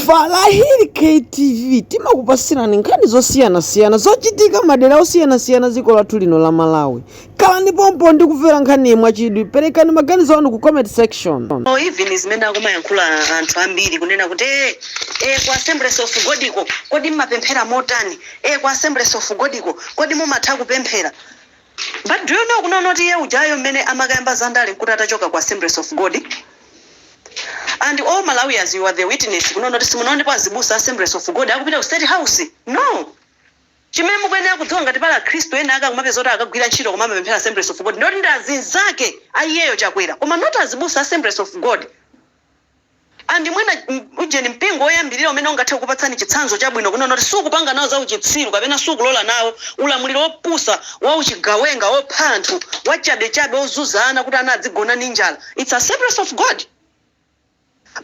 Farahil KTV timakupasirani nkhani zosiyanasiyana zochitika madera osiyanasiyana dziko lathu lino la Malawi. Khalani pompo ndi kumvera nkhaniyi mwachidwi. Perekani maganizo anu ku comment section. Even zimene akumayankhulapo anthu ambiri kunena kuti eh, eh, ku assemblies of god ko kodi mmapemphera motani eh, ku assemblies of god ko kodi mumatha kupemphera But do you know kunena kuti iye ujayo mmene amakayamba za ndale nkuti atachoka ku Assemblies of God and all Malawians you are the witness kunena kuti simunaonepo azibusa a Assemblies of God akupita ku State House? No! Chimene mukuyenera kudziwa ngati pali akhristu ena ake akumapeza kuti akagwira ntchito koma amapemphera Assemblies of God ndoti ndi azinzake a iyeyo Chakwera koma not azibusa a Assemblies of God. And mwina ujeni mpingo woyambirira umene ungathe kukupatsani chitsanzo chabwino kunena kuti sukupanga nawo zauchitsiru kapena sukulola nawo ulamuliro wopusa wauchigawenga wopha anthu wachabechabe wozunza ana kuti ana adzigona ndi njala it's Assemblies of God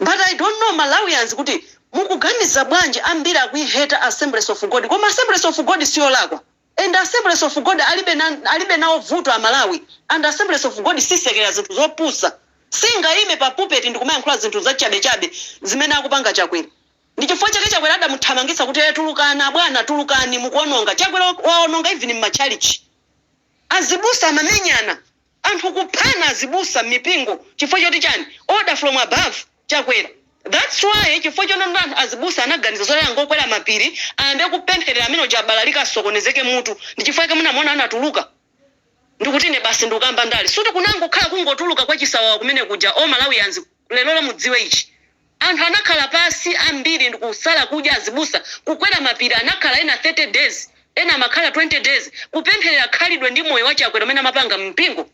but I don't know Malawians kuti mukuganiza bwanji ambiri akuiheta Assemblies of God koma Assemblies of God siyolakwa And Assemblies of God alibe nawo vuto a Malawi and Assemblies of God sisekelera zinthu zopusa singaime pa pulpit ndikumayankhula zinthu zachabe chabe zimene akupanga chakwera ndichifukwa chake chakwera adamuthamangitsa kuti ee tulukani abwana tulukani mukuononga chakwera waononga even mmachalichi azibusa amamenyana Anthu kuphana azibusa mmipingo chifukwa choti chani? Order from above Chakwera that's why chifukwa chonena kuti azibusa anaganiza zoti angokwera mapiri ayambe kupemphelera amene uja abalalike asokonezeke mutu ndichifukwa chake munamuona anatuluka ndikuti ine basi ndikukayamba ndale sikuti kunangokhala kungotuluka kwachisawawa kumene kuja all Malawians Lero mudziwe ichi. Anthu anakhala pansi ambiri ndikusala kudya azibusa kukwera mapiri anakhala ena 30 days ena amakhala 20 days kupempherera khalidwe ndi moyo wa Chakwera umene amapanga mumpingo.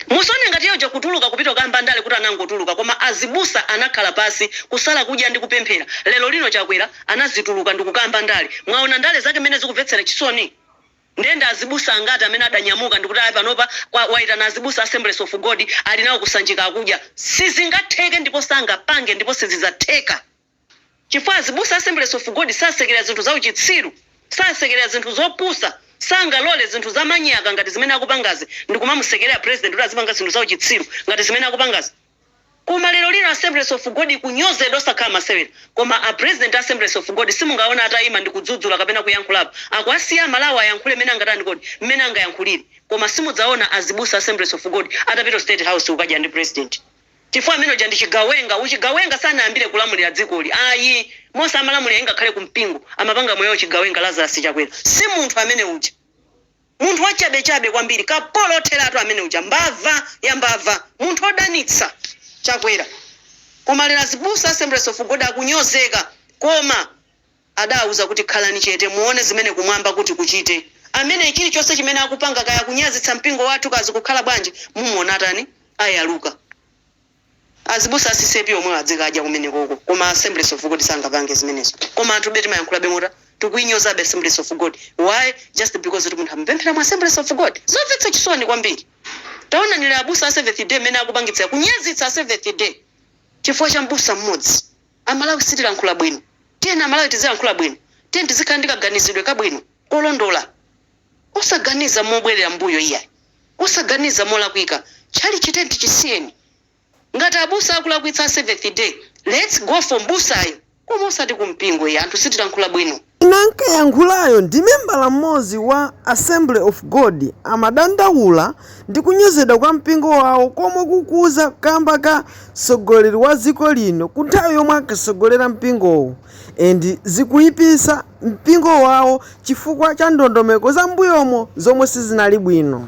Musaone ngati iye uja kutuluka kupita kukayamba ndale kuti anangotuluka koma azibusa anakhala pansi kusala kudya ndi kupemphera lero lino Chakwera anazituluka ndikukayamba ndale mwaona ndale zake mmene zikumvetsera chisoni? Ndiye ndi azibusa angati amene adanyamuka ndikuti ayi panopa waitana azibusa a Assemblies of God ali nawo ku Sanjika akudya? Sizingatheke ndipo sangapange ndipo sizidzatheka chifukwa azibusa a Assemblies of God sasekelera zinthu za uchitsiru, sasekelera zinthu zopusa, sangalole zinthu za manyaka ngati zimene akupangazi ndikumamusekelera president kuti azipanga zinthu za uchitsiru ngati zimene akupangazi. Koma lero lino assemblies of God ikunyozedwa osakhala masewera. Koma a president a assemblies of God simungawaona atayima ndikudzudzula kapena kuyankhulapo. Akuwasiya a Malawi ayankhule mmene angatani kodi? Mmene angayankhulire. Koma simudzaona azibusa a assemblies of God atapita ku state house kukadya ndi president. Chifukwa amene uja ndi chigawenga. Uchigawenga sanayambire kulamulira dzikoli ayi. Momwe amalamulira ingakhale ku mpingo amapanga moyo wauchigawenga Lazarus Chakwera si munthu amene uja. Munthu wachabechabe kwambiri. Kapolo otheratu amene uja. Mbava ya mbava. Munthu odanitsa. Chakwera koma lero azibusa Assemblies of God akunyozeka koma adawuza kuti khalani chete muwone zimene kumwamba kuti kuchite ameneyu chilichonse chimene akupanga kaya kunyazitsa mpingo wathu kaya zikukhala bwanji mumuwona atani ayaluka. Azibusa a ccap omwewo adzikadya kumenekoko koma Assemblies of God sangapange zimenezo koma anthube timayankhulabe moti tikuinyozabe Assemblies of God why just because kuti munthu amapemphera mu Assemblies of God zomvetsa chisoni kwambiri taonani lero abusa a seventh day mmene akupangitsira kunyazitsa a seventh day chifukwa cha mbusa mmodzi amalawi sitilankhula bwino tiyeni amalawi tizilankhula bwino tiyeni tizikhala ndi kaganizidwe kabwino kolondola. Osaganiza mobwerera mbuyo iyayi. Osaganiza molakwika. Tchalitchi chisiyeni. Ngati abusa akulakwitsa a Seventh Day, lets go for mbusayo koma osati ku mpingo iyayi anthu sitilankhula bwino. Winanso akuyankhulayo ndi membala mmodzi wa Assembly of God amadandaula ndi kunyozedwa kwa mpingo wawo komwe kukuza kamba ka mtsogoleri wa dziko lino ku nthawi yomwe ankatsogolera mpingowo. And zikuipisa mpingo wawo chifukwa cha ndondomeko za mbuyomo zomwe sizinali bwino.